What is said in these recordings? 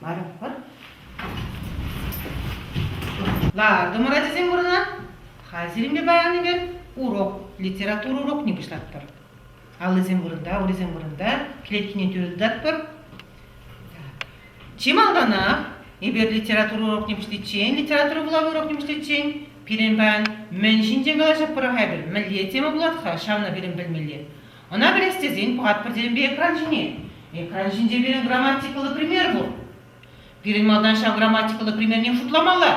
Баракпа. Лартӑмӑр ачасем вырӑна. Хазиримле баян ӗнер урок, литература урокне пуҫлатпӑр. Аллисем вырӑнта, урисем вырӑнта, клеткине тӳрӗ тытатпӑр. Чи малтанах эпир литература урокне пуҫличчен, литература вулавӑ урокне пуҫличчен пирӗн баян мӗн ҫинчен калаҫатпӑр-ха эпир, мӗнле тема пулать-ха, ҫавна пирӗн пӗлмелле. Ӑна пӗлес тесен пӑхатпӑр темӗнпе экран ҫине. Экран ҫинче пирӗн грамматикӑллӑ пример пур. Пирӗн малтан ҫав грамматикӑллӑ примерне шутламалла.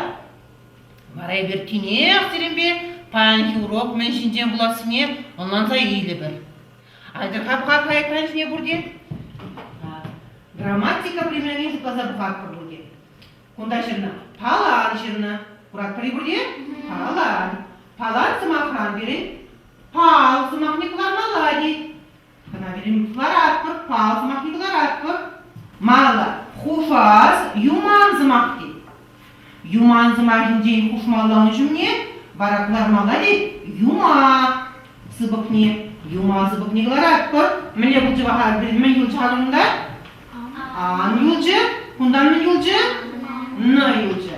Вара эпир тинех сирӗнпе паянхи урок мӗн ҫинчен пулассине ӑнланса илӗпӗр. Айтӑр-ха пӑхатпӑр экран ҫине пурте. Грамматика примерне шутласа пӑхатпӑр пурте. Кунта ҫынна палан ҫынна куратпӑр-и пурте? Палан. Палан сӑмахран пирӗн пал сӑмахне кӑлармалла тет. Кӑна пирӗн кӑларатпӑр, пал сӑмахне кӑларатпӑр. Мала хушас юман сӑмах тет. Юман сӑмахӗнчен хушмалланӑ ҫумне вара кӑлармалла тет юмах сыпӑкне. Юман сыпӑкне кӑларатпӑр. Мӗне пулчӗ ваха пирӗн мӗн юлчӗ-ха кунта? Ан юлчӗ, кунтан мӗн юлчӗ? На юлчӗ.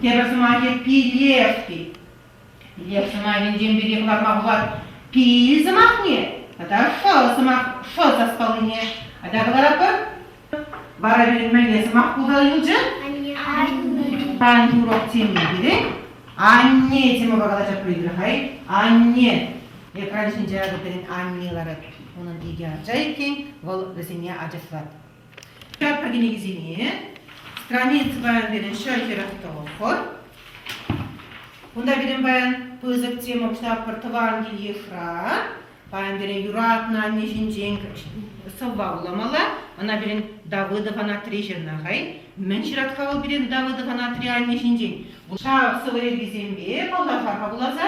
Тепӗр сӑмахӗ пилешки. Лев сӑмахӗнчен пирки кӑтартма пулать пил сӑмахне тата шӑл сӑмах шӑл саспаллине айта кӑларатпӑр. Вара пирӗн мӗнле сӑмах пултарӑлчӗ? Тань урок теме керек. Анне темӑпа калаҫа придыхай. Анне. Экран ҫинче акӑ пирӗн анне ларать. Унӑн икӗ ача иккен, вӑл вӗсене ачашлать. Ҫапӑр кӗнекисене Страница паян пирӗн ҫӗр хӗрӗх тӑлӑххӑр. Кунта пирӗн паян пысӑк тема кӑҫтапӑр тӑван кил-йышра. Паян пирӗн юратнӑ анне ҫинчен сӑвва вуламалла. Ӑна пирӗн Давыдов Анатри ҫырнӑ хай. Мӗн ҫырать-ха вӑл пирӗн Давыдов Анатри анне ҫинчен? Ҫав сӑвӑ йӗркисемпе вӑллаха хавхаласа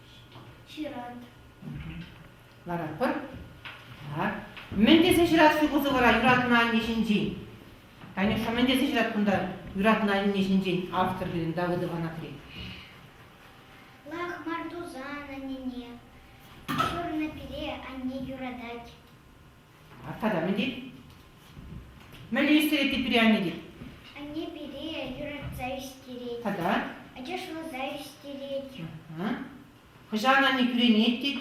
Ҫырать. Ларатпӑр. Так. Мӗн тесе ҫырать ҫу кузовӑра юратнӑ анне ҫинчен? Танюша, мӗн тесе ҫырать кунта юратнӑ анне ҫинчен автор пирӗн Давыд Иванатри? Лах мар тусан аннене. Ҫурнӑ пире анне юратать. Тата мӗн тет? Мӗнле ӳстерет те пире анне тет? Анне пире юратса ӳстерет. Тата? Ачаш ывӑлса ӳстерет. Хӑҫан анне кӳренет тет?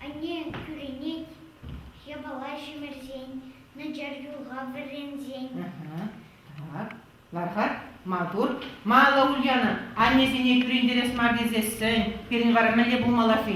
Анне кӳренет япала ҫӗмӗрсен, начар юлга вӗренсен. Так, лархат, маттур. Малла Ульяна, аннесене кӳрентерес мар тесессӗн, пирӗн вара мӗнле пулмалла-ши?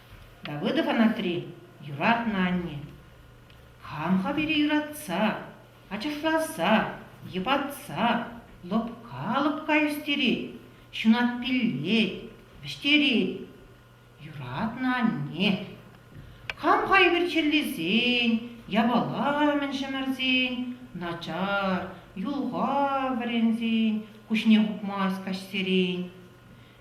Давыдов Анатри юратнӑ анне. Хам-ха пире юратса, ачашласа, йӑпатса, лӑпка-лӑпка ӳстерет, ҫунат пиллет, вӗҫтерет. Юратнӑ анне. Хам-ха ӳкерчеллесен, япала умӗн ҫӗмӗрсен, начар, юлха вӗренсен, куҫне хупмасть каҫсерен.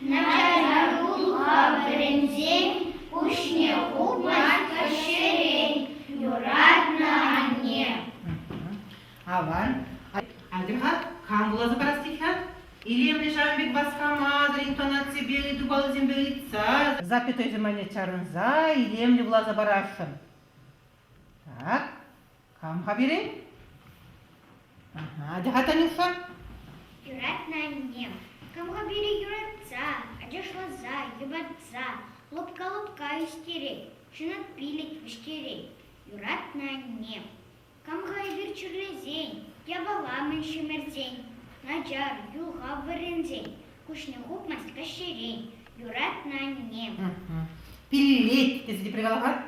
Наталука вӗренсен пуҫне хупать ҫӗрен юратнӑ анне. Аван. Атьӑр-ха, кам вуласа парас тет-ха? Илемлӗ ҫавӑн пек васкама, интонаципе, итупаллисемпе ыйтса, запятойсем айне чарӑнса илемлӗ вуласа парасшӑн. Так, Кам-ха пире? Ага, ачаха Танюша? Юрать на анне. Кам-ха пире юратса, ачашласа, йӑпатса, лӑпка-лӑпка ӳстерет, ҫунат пилӗк вӗҫтерет. Юрать на анне. Кам-ха эпир чирлесен, япала-мӗн ҫӗмӗрсен, начар, юлхав вӗренсен, Куҫне хупмасть каҫсерен, юратнӑ аннем. Пиллет, тесе тепре калама?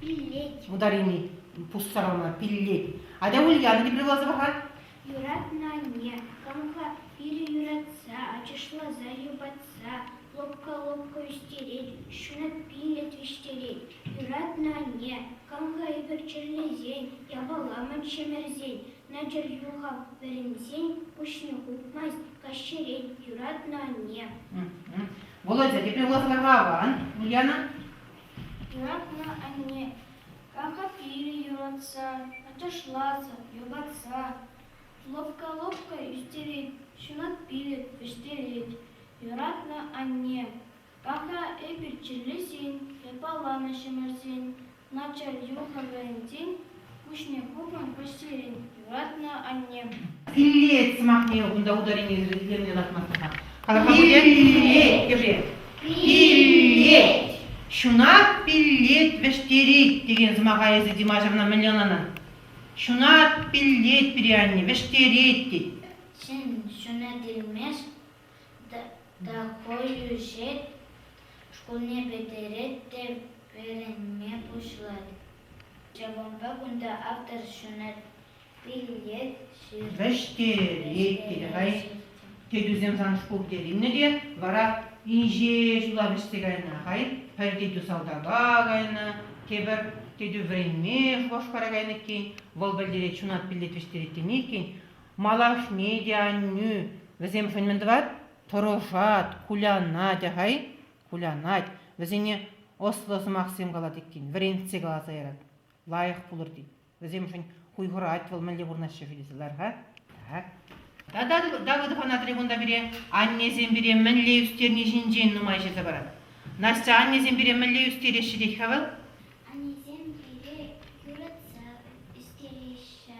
Пиллет. Ударили, пуссарама, пиллет. Атя Ульяна тепре каласа паха? Юратнӑ анне, камха пилӗ юратса, ачашласа юпатса, лӑпка-лӑпка ӳстерет, ҫуна пиллет вӗҫтерет. Юратнӑ анне, камха эпир чирлесен, япаламӑн ҫӗмӗрсен, Надир юхав вӗренсен пуҫне хупмасть каҫчерен юратнӑ анне. Володя, тепле улахӑнарпа аван, Ульяна? Юратнӑ анне ракофили юратса, аташласа, йӑпатса, лӑпка-лӑпка ӳстерет, ҫунат пилӗк вӗҫтерет. Юратнӑ анне Тата эпир чирлесен, япаланӑҫӑмӑрсен, начар юлнӑ вырӑнсен пуҫне хупнӑ пӗҫерен юратнӑ аннем. Пиллет сӑмахне унта ударенийӗсӗр илемлӗ лартман тата. Кала-ха пулӗ? Пиллет! Ҫунат пиллет вӗҫтерет текен сӑмаха эсӗ Димашевна мӗнле ӑнланан? Ҫунат пиллет пире анне вӗҫтерет тет. Ҫын ҫунать илмест, Такой ӳсет, шкулне пӗтерет те вӗренме пуҫлать. Ҫавӑнпа кунта автор ҫунать, пиллет, ҫырать. Вӗҫтерет тетӗп-ай. Тетӳсем сан шкул тет илнӗ те, вара инҫе ҫула вӗҫсе кайнӑ хай. Пӗр тетӳ салтака кайнӑ, тепӗр тетӳ вӗренме Шупашкара кайнӑ иккен. Вӑл пӗлтерет, ҫунат пиллет вӗҫтерет теме иккен. Малашне те, аннӳ, вӗсемшӗн мӗн тӑвать? Тӑрӑшать, кулянать, ахай, кулянать, вӗсене ӑслӑ сӑмахсем калать иккен, вӗрентсе каласа ярать. Лайӑх пулӑр тет. Вӗсемшӗн хуйхӑрать вӑл мӗнле пурӑнаҫҫӗ ши тесе лар-ха. Тата Давыдов ана трибунта пире аннесем пире мӗнле ӳстерни ҫинчен нумай ҫырса парать. Настя, аннесем пире мӗнле ӳстереҫҫӗ тет-ха вӑл? Аннесем пире юратса ӳстереҫҫӗ,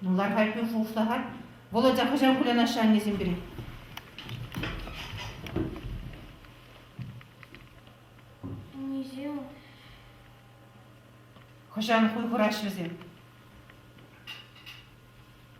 Ну, лархать юр шухӑшлахать. Володя хӑҫан кулянаҫҫӗ аннесем пире? Хӑҫан хуй хураҫҫӗ вӗсем?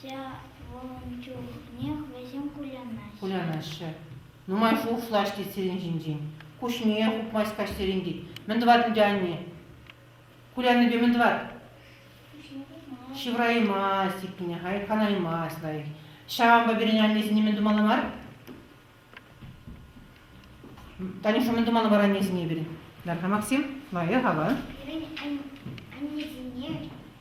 Ҫавӑн чухнех вӗсем кулянаҫҫӗ. Кулянаҫҫӗ. Нумай шухӑшлаҫ тет сирӗн ҫинчен. Куҫне хупмасть каҫсерен тет. Мӗн тӑвать ӗнтӗ анне? Куляннипе мӗн тӑвать? Ҫывӑраймасть иккенне, айӑпланаймасть лайӑх. Ҫавӑнпа пирӗн аннесене мӗн тумалла мар? Танюша, мӗн тумалла мар аннесене пирӗн? Нарха Максим, лайӑх ава. Пирӗн аннесене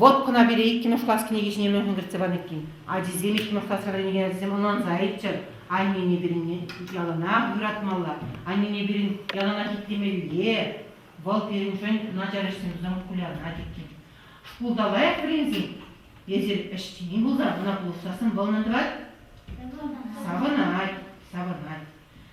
Вот кӑна пире иккӗмӗш класс кӗнеки ҫине мӗншӗн кӗртсе панӑ иккен. Ачисем иккӗмӗш класра вӗренекен ачасем ӑнланса айччӑр. Аннене пирӗн яланах юратмалла, аннене пирӗн яланах итлемелле. Вӑл пирӗншӗн начар ӗҫсемсем кулянать иккен. Шкулта лайӑх вӗренсен эсир ӗҫчен пулсан, ӑна пулӑшса сӑнвӑллӑн тӑвать. Савӑнать, савӑнать.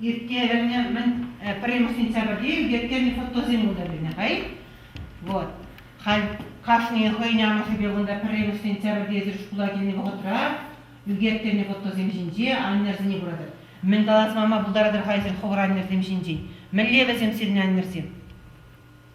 ирттернӗ мӗн пӗрремӗш сентябрьте ӳкерттернӗ фотосем унта пулнӑ-ха вот халь кашнийӗн хӑйӗн амӑшӗпе кунта пӗрремӗш сентябрьте эсир шкула килнӗ вӑхӑтра ӳкерттернӗ фотосем ҫинче аннӗрсене куратӑр мӗн калас мама пултаратӑр-ха эсир хӑвӑр аннӗрсем ҫинчен мӗнле вӗсем сирӗн аннӗрсем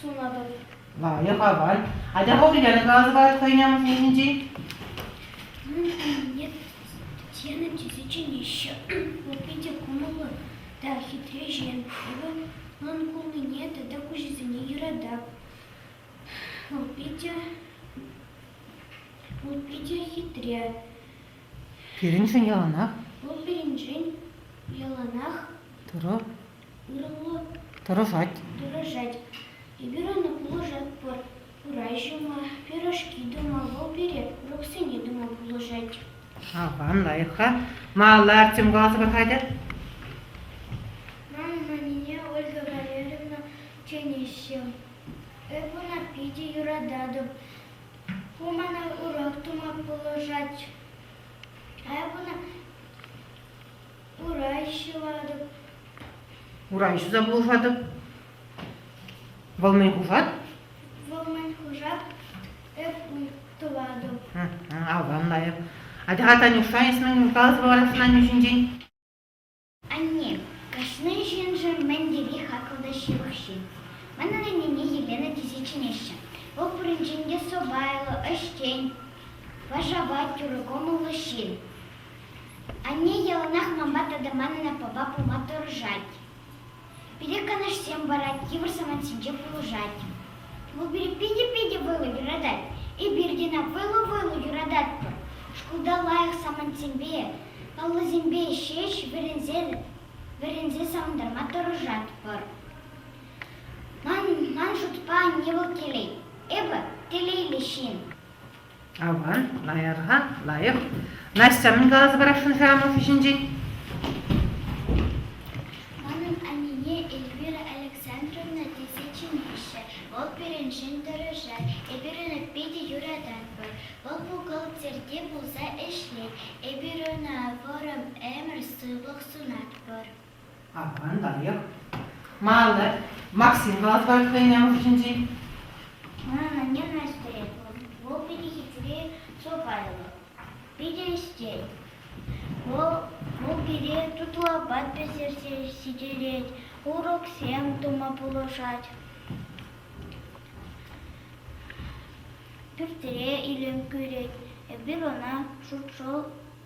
Сунатӑп. Валим аваль. Ача пӑху тенӗ калаҫӑвать хӑйӗн амӑшӗнчен. Нет, тенӗ тесе чӗнеҫҫӗ. Ку питӗ кӑмӑллӑ та хитре ҫемҫе. Ун кулнине тата куҫӗсене юратап. Вӑл питӗ... Вӑл питӗ хитре. Пирӗншӗн яланах. Вӑл пирӗншӗн яланах. Турӑ Тӑрӑшать. Тӑрӑшать. Эпир ӑна пулӑшатпӑр. Урай ҫума, пирӗшки тума, вӑл пире уроксене тума пулӑшать. Аван, лайӑх-ха. Малла Артем каласа пӑрахатӗ. Мама мине Ольга Валерьевна чӗнеҫҫӗ. Эпӗ ӑна питӗ юрататӑп. Ку мана урок тума пулӑшать. Эпӗ ӑна Урай ҫӑватӑп. Урай ҫуса пулӑшатӑп. Вӑл мӗн хушать? Вӑл мӗн хушать? Эп уй тӑватӑп. Аван лайӑх. Атя, Танюша, эс мӗн улталас вара Саню ҫинчен? Анне, кашни ҫыншӑн мӗн тери хаклӑ та ҫывӑх ҫын. Манӑн аннене Елена тесе чӗнеҫҫӗ. Вӑл пуринчен те сӑпайлӑ, ӗҫчен, вашапа тӳрӗ кӑмӑллӑ ҫын. Анне яланах манпа тата манӑн аппапа пулма тӑрӑшать. Пире канашсем парать, йывӑр самантсенче пулӑшать. Вӑл пире питӗ-питӗ вӑйлӑ юратать. Эпир тена вӑйлӑ-вӑйлӑ юрататпӑр. Шкулта лайӑх самантсемпе, паллӑсемпе ҫеҫ вӗренсе, вӗренсе савӑнтарма тӑрӑшатпӑр. Ман, ман шутпа, анне вӑл телей. Эпӗ телейлӗ ҫын. Авӑ, лайӑх-ха, лайӑх. Настя, мӗн каласа парасшӑн-ши Амӑшӗ ҫинчен? Манӑн анне Эльвира Александровна тесе чӗнеҫҫӗ. Вӑл пирӗншӗн тӑрӑшать. Эпир ӑна питӗ юрататпӑр. Вӑл бухгалтерте пулса ӗҫлет. Эпир ӑна вӑрӑм ӗмӗр сывлӑх сунатпӑр. Аванлӑх. Маллать. Максим каласпать хӑйне хушшинчи. Анне Настя, вӑл питӗ хитре сӑпайлӑ. Питӗ ӗстет. Вӑл, вӑл пире тутлӑ апат пӗҫерсе ҫитерет, уроксем тума пулӑшать. Пӳртре илем кӳрет, эпир ӑна шуршӑл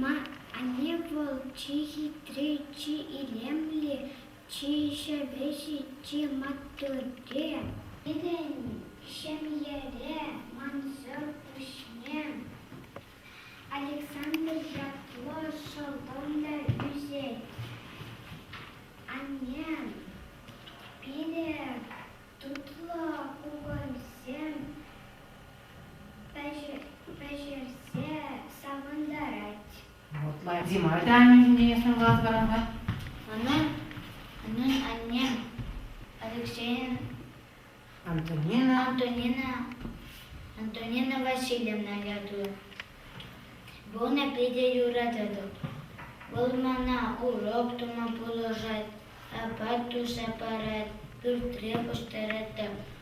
Ма анне вӑл чи хитри, чи илемли, чи ҫӗвӗҫӗ, чи маттурри? Пирӗн ҫемьере мансӑр пуҫне Александр ятлӑ шӑлтӑм та ӳсет. Анне пире тутлӑ кукӑрсем пӗҫерсе савӑнтарать. Дима та анне ҫумне сӑнлас каламать. Унӑн, унӑн анне Алексея Антонина Антонина Антонина Васильевна ятли. Вона питӗ юрататӑп. Вӑл мана урок тума пулӑшать, апат туса парать, пӳртре пуҫтарать та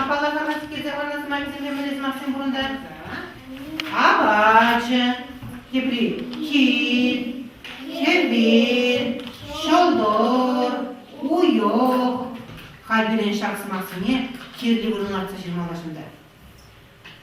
Апала грамматикӗлсе парнӑ сӑмахӗсемпе мӗнле сӑмахсем пурӑнтӑр? Апачӗ, тепри кил, хӗвел, ҫӑлтӑр, уйӑх. Хальтерен ҫак сӑмахсене кирлӗ вырӑн лартса ҫырмалла шунта.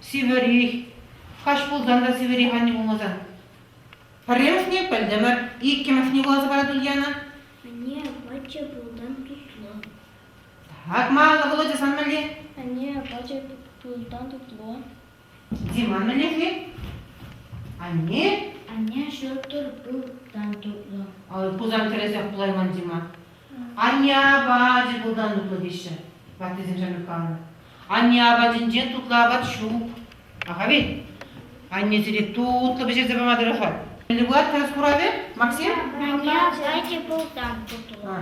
Сивӗри, хаҫ пулсан та Сивӗри анне пулмасан. Пӗрремӗшне пӗлтӗмӗр, иккӗмӗшне вуласа парать Ульяна. Анне, апачӗ пулсан тутлӑ. Акмалла, Володя, сан мӗнле? Анне, апачӗ пулсан тутлӑ. Диман мӗнле-ши? Анне? Анне, ҫуртӑр пулсан тутлӑ. Пусан кӗресех пулайман Дима. Анне апачӗ пултан тутлӑ теҫҫӗ, ваттисем ҫамрӑк каланӑ. Анне апатӗнчен тутлӑ апат ҫук. Ахави, анне сире тутлӑ пӗҫерсе пама тӑрӑшать. Мӗнле пулать халас куравӗ, Максим? Анне апачӗ пултан тутлӑ.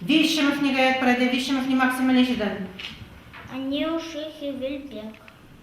Виҫҫӗмӗшне каять пӗрате, виҫҫӗмӗшне Максим мӗнле ҫыртать? Аннеуши хӗвел пек.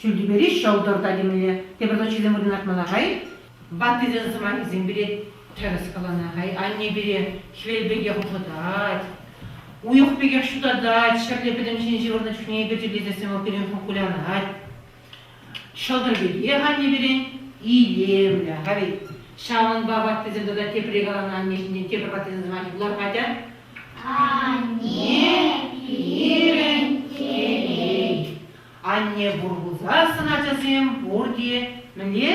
Ҫӳлтӳпери ҫӑлтӑр та темелле, тепӗр тӑччӗ те мӑкӑнатма лаша-и? Ваттисен сӑмахӗсем пире тӗрӗс каланӑ-хай, анне пире хӗвел пекех ухӑтать, уйӑх пекех ҫутатать, ҫӗрле пӗтӗм ҫын ҫывӑрнӑ чухне эпир чирлесессӗн вӑл пирӗн ху кулянать. Ҫӑлтӑр пекех анне пирӗн илемлӗ, хай. Ҫавӑнпа ваттисем тата тепре каланӑ анне ҫинчен тепӗр ваттисен сӑмахӗ пулар-ха тя. Анне пирӗн телей. Анне пур пулсассӑн ачасем пурте мӗнле?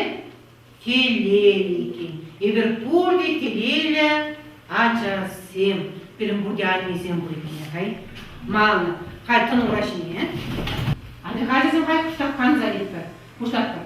Телейлӗ иккен. Эпир пурте телейлӗ ачасем. Пирӗн пурте аннесем пуль иккен. Хай. Мала. Хай тӑнӑ ура ҫине. Анне, хай ачасем, хай пуҫтах канса литпӗр. Пуҫлатпӑр.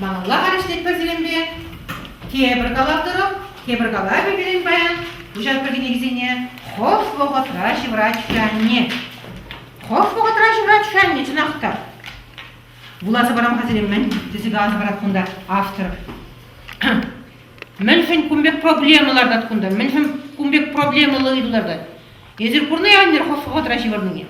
Малалла калаҫнӑ пӗр тепӗр калаттӑрӑм, тепӗр калавӗ пирӗн паян куҫатпӑр кӗнекисене хӑш вӑхӑтра ҫывӑрать-ши анне? Хӑш вӑхӑтра ҫывӑрать-ши анне чӑнах та? Вуласа парам-ха сире мӗн, тесе каласа парать кунта автор. Мӗншӗн кун пек проблема лартать кунта? Мӗншӗн кун пек проблемӑллӑ ыйту лартать? Эсир курнӑ-и аннер хоспохотра ҫывӑрнине?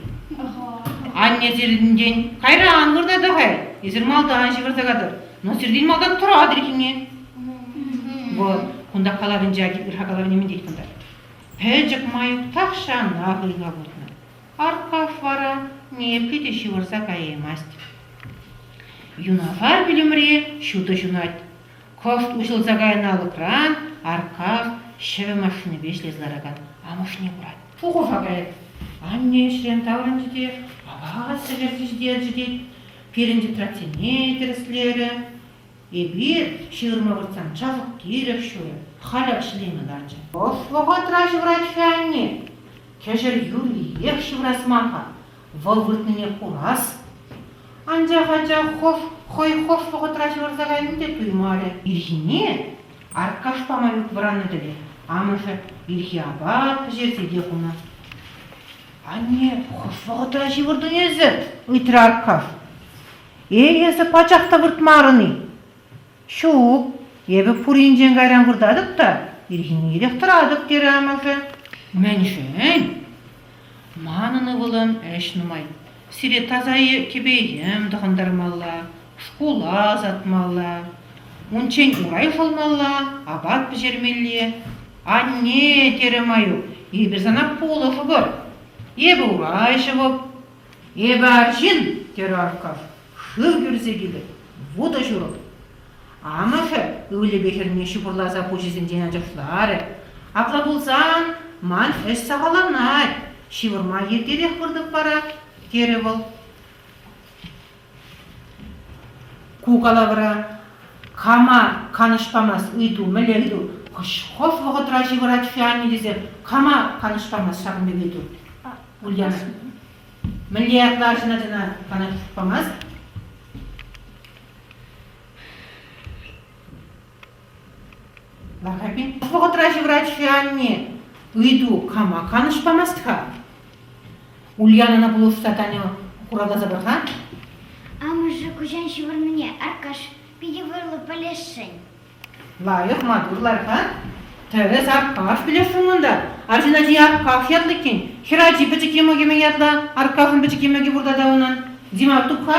Анне сирӗнтен кайра ан вырта та хай, эсир малтан ҫывӑрса катӑр, но сиртен малтан тӑратӑр иккенне. Вӑл кунта калавӗнче ырха калавне мӗн тет кунта? Пӗчӗк Маюк тахҫанах ыйла путнӑ. Аркаш вара ниепле те ҫывӑрса каяймасть. Юнашар вилӗмре ҫутӑ ҫунать. Кӑшт уҫӑлса кайнӑ алӑкран арках ҫӗвӗ машинипе ӗҫлесе ларакан амӑшне курать. Шухӑша каять. Анне ӗҫрен таврӑнчӗ те, апат ӗҫерчӗ тет. Пирӗн тетрадьсене тӗрӗслерӗ. Эпир ҫырма выртсан чашӑк-тирӗк ҫурӗ халех ҫӗлеме ларчӗ. Ӑс вӑхӑтра ҫыврать-ха анне. Кӗҫӗр юлиех ҫыврас мар-ха. Вӑл выртнине курас, анчах ача хӑш хӑй хӑш вӑхӑтра ҫывӑрса кайнине те туймарӗ. Ирхине Аркаш пама ют вӑраннӑ-тӗле амӑшӗ ирхи апат пӗҫерсе те хунӑ. Анне хӑш вӑхӑтра ҫывӑртӑн эсӗ? ыйтрӗ Аркаш. Эй, эсӗ пачах та выртмарӑн-и? Ҫук, эпӗ пуринчен кайран выртатӑп та ирхине-ирех тӑратӑп, терӗ амӑшӗ. Мӗншӗн? Манӑн ывӑлӑм ӗҫ нумай. Сире таса кӗпе-йӗм тӑхӑнтармалла, шкула ӑсатмалла, унччен урай шӑлмалла, апат пӗҫермелле. Анне, терӗ Маюк, эпир сана пулӑшӑпӑр. Эпӗ урай ҫӑвӑп, Эпӗ арҫын, терӗ Аркаш, шыв кӳрсе килӗ, вутӑ ҫурӑп. Амӑшӗ ывӑлӗпе хӗрне ҫупӑрласа пуҫӗсенчен ачашларӗ. Апла пулсан, ман ӗҫ сахалланать, ҫывӑрма иртерех выртӑп вара, терӗ вӑл. Ку калавра кама канӑҫ памасть ыйту, мӗнле хӑш, хӑш вӑхӑтра ҫывӑрать-ши анне тесе кама канӑҫ памасть ҫакӑн пек ыйту? Ульяна. Мӗнле ятлӑ арҫын ачана канӑҫ памасть? Лахапин пуш вӑхӑтра ҫывӑрать-ши анне? Ыйту кама канӑҫ памасть-ха? Ульянӑна пулӑшса Таня хуравласа пар-ха. Амӑшӗ куҫан ҫывӑрнине, Аркаш, питӗ вӑйлӑ пӗлесшӗн. Лайӑх маттур лар-ха. Тӗрӗс, Аркаш, пӗлесшӗн унта. Арҫын ачи Аркаш ятлӑ иккен. Хӗр ачи пӗчӗк йӑмӑкӗме ятлӑ, Аркашӑн пӗчӗк йӑмӑкӗ пур тата унӑн. Димар туп-ха?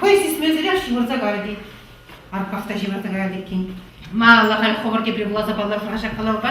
Хӑй сисмесӗрех ҫывӑрса кайрӗ Арках та ҫывӑрса каять иккен. Ма алла халь хӑвӑр тепре вуласа паллах-ха ҫак калавпа?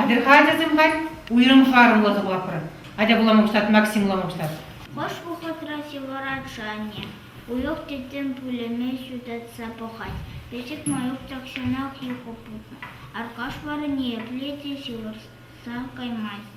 Атьӑр-ха, ачасем, халь уйрӑм харӑмлӑ сывлӑхӑр. Атя вулама куҫать, Максим вулама куҫать. Хӑш вӑхӑтра сивора Джанни уйӑх тӗттӗм пулӑмӗ ҫутатса пӑхать. Пӗчӗк Маюк тахҫанах юхӑ путнӑ. Аркаш вара ниепле те ҫывӑрса каймасть.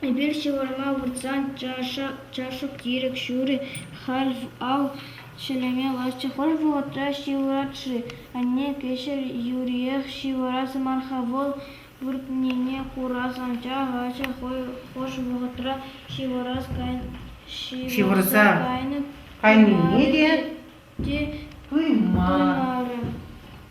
Эпир ҫывӑрма выртсан чашӑк-тирӗк ҫурӗ халь ав ҫӗлеме ларчӗ. Хӑш вӑхӑтра ҫывӑрать-ши анне? Кӗҫӗр юриех ҫывӑрас мар-ха вӑл. Выртнине курас ача лачӗ хӑй хӑш вӑхӑтра ҫывӑрса кайнӑ. Ҫывӑрса кайнине те те пымарӗ.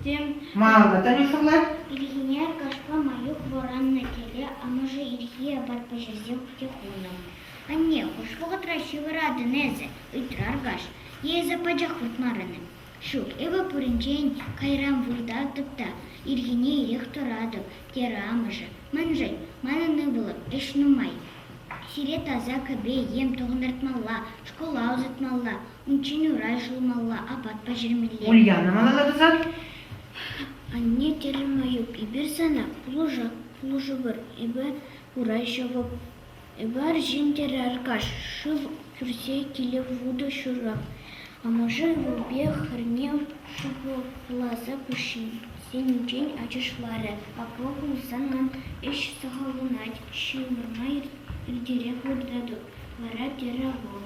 Тем. Маллӑ Танюшӑлла. Ирхине кашка Маюк вӑраннӑ тӗле амӑшӗ ирхи апат-паҫӑрсем хутӗ хунӑ. Анне, хӑш вӑхӑтра ҫывӑратӑн эсӗ? ыйтрӗ аркаш. Е эсӗ пачах выртмарӑн-и? Ҫук, эпӗ пуринчен кайран выртатӑп та ирхине ирех тӑратӑп, терӗ амӑшӗ. Мӗншӗн? Манӑн ывӑлӑм ӗҫ нумай. Сире таса кӗпе-йӗм тӑхӑнтартмалла, шкула ӑсатмалла, Унччен урай ҫулмалла, апат пӗҫермелле. Ульяна малалла тӑсат. Анне терӗм Аюк, эпир сана пулӑшак пулӑшӑпӑр. Эпӗ урай ҫӑвӑп. Эпӗ арҫын терӗ Аркаш, шыв кӳрсе киле вутӑ ҫурах. Амӑшӗ ывӑлпе хӗрне шӑпӑлласа пуҫӗсенчен ачашларӗ. Апла пулсан ман ӗҫ сахалланать, ҫывӑрма иртерех выртатӑп, вара терӗ вӑл.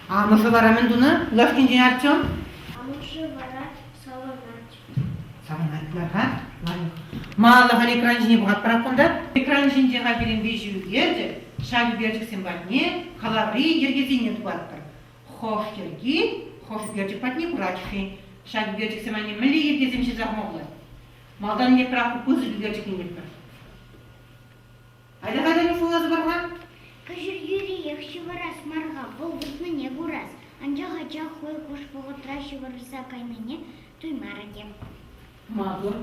Амӑшӗ вара мӗн тунӑ лавккинчен Артем? Амӑшӗ вара саламать. Саламать мар-ха, лайӑх. Малаллӑха экран ҫине пӑхатпӑр кунта. Экран ҫинче пирӗн виҫӗ ӳкерчӗк, ҫак ӳкерчӗксем патне калаври йӗркесене тухатпӑр. Хӑш йӗрки хӑш ӳкерчӗк патне пырать-ши? Ҫак ӳкерчӗксем анне мӗнле йӗркесем ҫырса хӑма пулать? Малтан эпир аку пысӑк ӳкерчӗк илместпӗр. Айта-кайта суллатӑпӑр-ха. Кӗҫӗрхӳриех ҫывӑрас мар-ха, вӑл выртнине курас, анчах ача хӑй хӑш вӑхӑтра ҫывӑрса кайнине туймарӗ те. Маттур.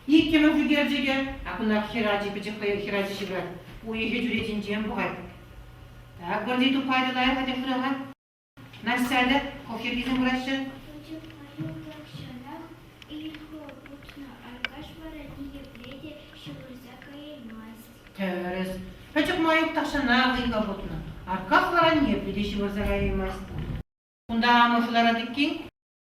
Иккӗмӗш ӳкерчӗкӗ, акунах хӗр ачи пӗчӗк хӑйӑх хӗр ачи ҫывӑрать. Уйӑхӗ чӳречинчен пӑхать. Так, вӑрҫи тухать, лайӑх ача хурӗ-ха. Настя алӗ хохиркӗсем кураҫҫӗ. Пучӑхпа-юхлӑхҫӑнах ыйхӑ путнӑ. Аркаш вара ниепле те ҫывӑрса каяймасть. Тӗрӗс. Пӗчӗк Маюк тахҫанах ыйхӑ путнӑ. Арках вара ниепле те ҫывӑрса каяймасть. Кунта амӑшӗ ларать иккен.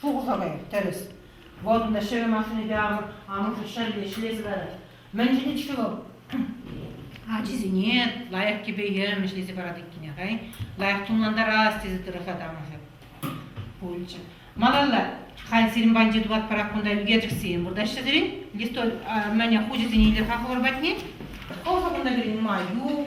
Шухӑшӑр-и? Тӗрӗс. Вӑтӑн та ҫӗвӗ машинипе амӑшӗ ҫӗрле ӗҫлесе тӑрать. Мӗн ҫитет-ҫке вӑл? Ачисене лайӑх кӗпе-йӗм ӗҫлесе парать иккен, хай. Лайӑх тумлантарас тесе тӑрӑшать амӑшӗ. Пулчӗ. Малалла, халь сирӗн панчи тулатпӑрах кунта ӳкерчӗксем выртаҫҫӗ-сирӗн? Листовь, мӗне, хучӗсене илер-ха хӑвӑр патне? Ӑшӑ кунта кӗрен май, ю.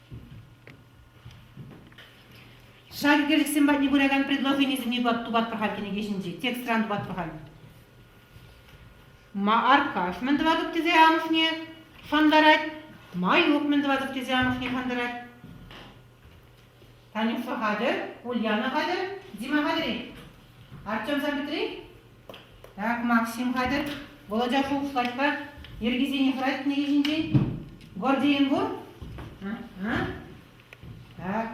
Шаркелӗхсем патне пыракан предложенисене тупатпӑр-ха кӗнеке ҫинче, текстран тупатпӑр-ха. Мааркаш мӗн тӑватӑп тесе амӑшне шантарать, Маюк мӗн тӑватӑп тесе амӑшне шантарать. Танюша хатӗр, Ульяна хатӗр, Дима хатӗр-и? Артем Сам Петри? Так, Максим хатӗр, Володя шухӑшлать-ха, йӗркисене хӑратнӑ е ҫинчен? Гордиен пур? А? А? Так.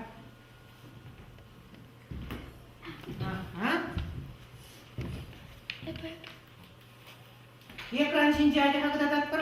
Ага. Экран ҫинче ачаха кӑтартатпӑр.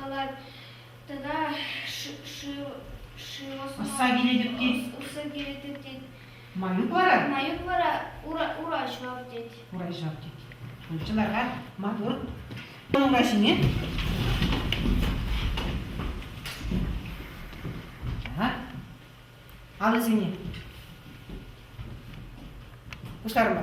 калать тата усса килетӗп тет. Усса килетӗп тет. Маюк вара? Маюк вара ура, ура ҫав тет. Ура ҫав тет. Чыларга матур. Ура ҫине. Алӑсене. Пуҫларма.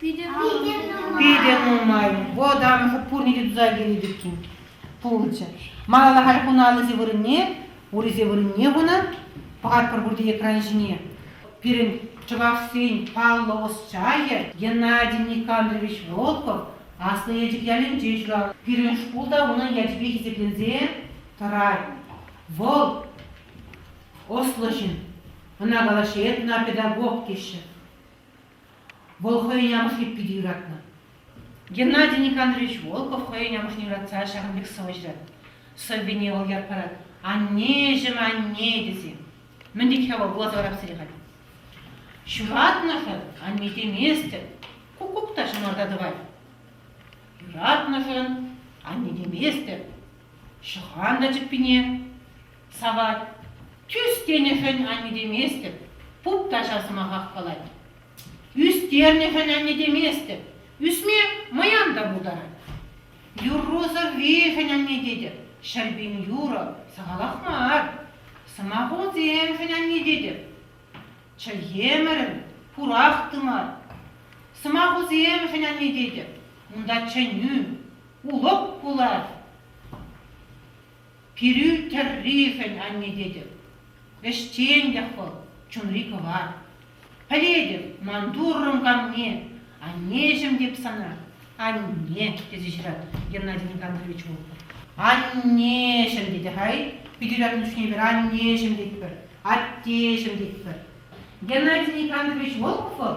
Питӗ нумай. Вӑтам пурне те туса килет иккен. Пулчӗ. Малалла халь хунӑ аллисем вырӑнне, урисем вырӑнне хунӑ. Пӑхатпӑр пурте экран ҫине. Пирӗн чӑвашсен паллӑ ӑсчахӗ Геннадий Никандрович Волков Аслӑ Елчӗк ялӗнче ҫуралнӑ. Пирӗн шкул та унӑн ячӗпе хисепленсе тӑрать. Вӑл ӑслӑ ҫын. Ӑна калаҫҫӗ, эп ӑна педагог теҫҫӗ. Вӑл хӑйӗн амӑшне питӗ юратнӑ. Геннадий Никандрович Волков хӑйӗн амӑшне юратса ҫакӑн пек сӑвӑ ҫырать. Сӑввине вӑл ят парать «Аннеҫӗм, анне» тесе. Мӗн тет-ха вӑл вуласа-вараксене халь? Ҫуратнӑшӑн анне теместӗн куккук та ҫӑнарта тӑвать. Юратнӑшӑн анне теместӗн ҫӑхан та чӗппине. Сават, тӳс тенӗшӗн аннетеместӗп, пуп каҫа сӑмахах калать. Ӳстернӗшӗн аннетеместӗп, ӳсме мӑян та пултарать. Юррусӑр виҫӗн анне тетӗп, ҫӗрпин юрӑ сахалах мар. Сӑмахусемшӗн анне тетӗп. Чӗлхемӗрӗм пурах тымар. Сӑмахусемшӗн анне тетӗп, унта чӗнӳ, улӑп пулать. Пирӳ тӗрришӗн анне тетӗп. Ӗҫчен тех вӑл, чунри кӑвар. Пӗлетӗп, ман Туррӑм канне, аннеҫӗм теп сана, анне, тесе ҫыратӑп Геннадий Никандрович Волков. Аннеҫӗм тетӗ-хай, Питӗрян Куҫневер аннеҫӗм тетпӗр, аттеҫӗм тетпӗр. Геннадий Никандрович Волков вӑл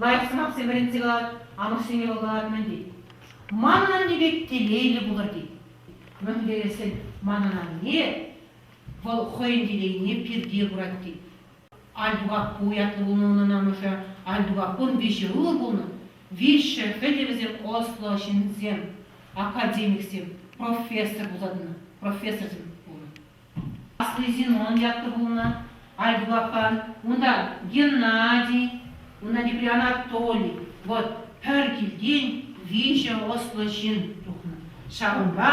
Лайӑх сӑмахсем вӗрентсе калат, амӑшсене вӑл калатмӗн тет. Манӑн анне пек телейлӗ пулӑр тет. Мӗнлереххӗн манӑн анне вӑл хӑйӗн телейне пирте курать тет. Альтупаппу ятлӑ пулнӑ унӑн амӑшӗ, Альтупаппун виҫӗ ывӑл пулнӑ, виҫҫӗ хӗтӗ вӗсем ӑслӑ ҫынсем, академиксем, профессор пулса тӑнӑ, профессорсем пулнӑ. Асли Зинон ятлӑ пулнӑ, Альбукан, унта Геннадий, унта тепри Анатолий, вот пӗр килтен виҫӗ ӑслӑ ҫын тухнӑ. Ҫавӑнпа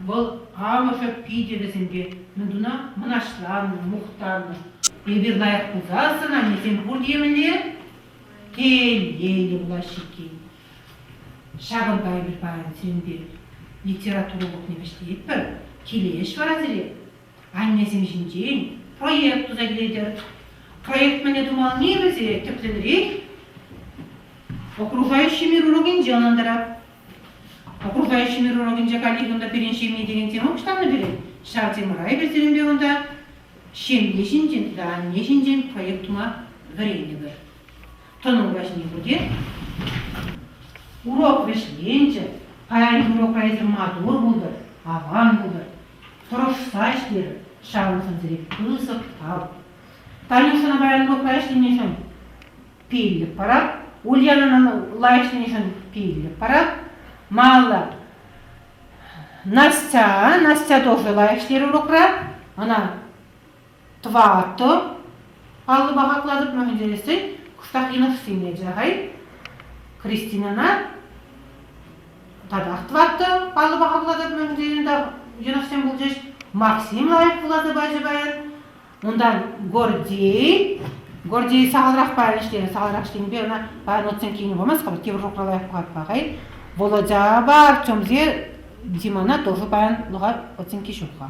вӑл амӑшӗ питӗ вӗсемпе мӗнтуна мӑнаҫланнӑ, мухтаннӑ. Эпир лайӑх пулсассӑн аннесем пур темӗнле телейлӗ пулаҫҫӗ иккен. Ҫавӑнпа эпир паян сирӗнпе литература урокне вӗҫлетпӗр. Киле ӗҫ вара сире аннесем ҫинчен проект туса килетӗр. Проект мӗне тумални вӗсе тӗплӗнрех окружающий мир урокӗнче ӑнлантарап. Окружающий мир урокӗнче коллеги унта пирӗн ҫемье текен тема пуҫланнӑ пирӗн. Ҫав темӑра эпир сирӗнпе унта ҫемье ҫинчен тата анне ҫинчен проект тума вӗрентӗпӗр. тӑнӑн каҫне пӗтет. Урок вӗҫленчӗ. Паян урока эсир матур пултӑр, аван пултӑр. Тӑрӑшса ӗҫлер, ҫавӑншӑнсӑрех пысӑк тав. Танюшӑна паян урокра ӗҫленӗшӗн пиллӗк парап. Ульянӑна лайӑх ӗҫленӗшӗн пиллӗк парап. Малла. Настя, Настя тоже лайӑх ӗҫлерӗ урокра. Ӑна Тӑватӑ паллӑ паха кӑлатӑпма хӳтӗлесен кӑштах йӑнӑхсине те-хай Кристинана татах тӑваттӑ паллӑ паха кӑлатӑпма хӳтӗленӗ та йӑнӑхсем пулчӗҫ. Максим лайӑх кӑлатӑ пачӗ паян. Унтан Гордей Гордей сахалрах паян ӗҫлерӗ, сахалрах ӗҫленипе ӑна паян отсем килнӗ памасть хӑвӑр тепӗр лайӑх кӑлатпа-хай. Володя бар чомсе Димана тоже паян луга оценки ҫук-ха.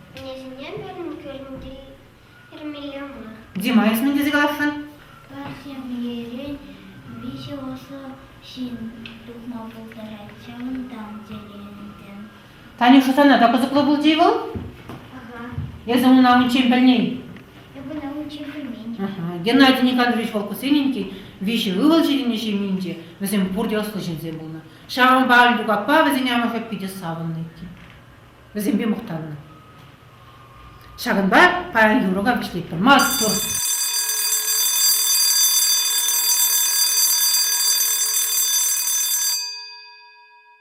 Кӗнекене пирӗн кӳренти Эрмеле мар. Дима, эс мӗн тесе каласшӑн? Парсемлерен виҫӗ ӑсӑ ҫын тухма пултарать, ҫавӑнтан тӗлӗнтӗм. Танюша, сана та кӑсӑклӑ пулчӗ-и вӑл? Ага. Эсӗ унӑна унччен пӗлнӗ-и? Эп ӑна унччен пӗлмен. Геннадий Николаевич Волкусененький виҫӗ ывӑл ҫитӗннӗ ҫемьинче. Вӗсем пурте ӑслӑ ҫынсем пулнӑ. Ҫавӑнпа Альтук аппа вӗсен амӑшӗ питӗ савӑннӑ иккен. вӗсемпе мухтаннӑ. Ҫакӑнпа паян юрӑ вӗҫлетпӗр. Маттур!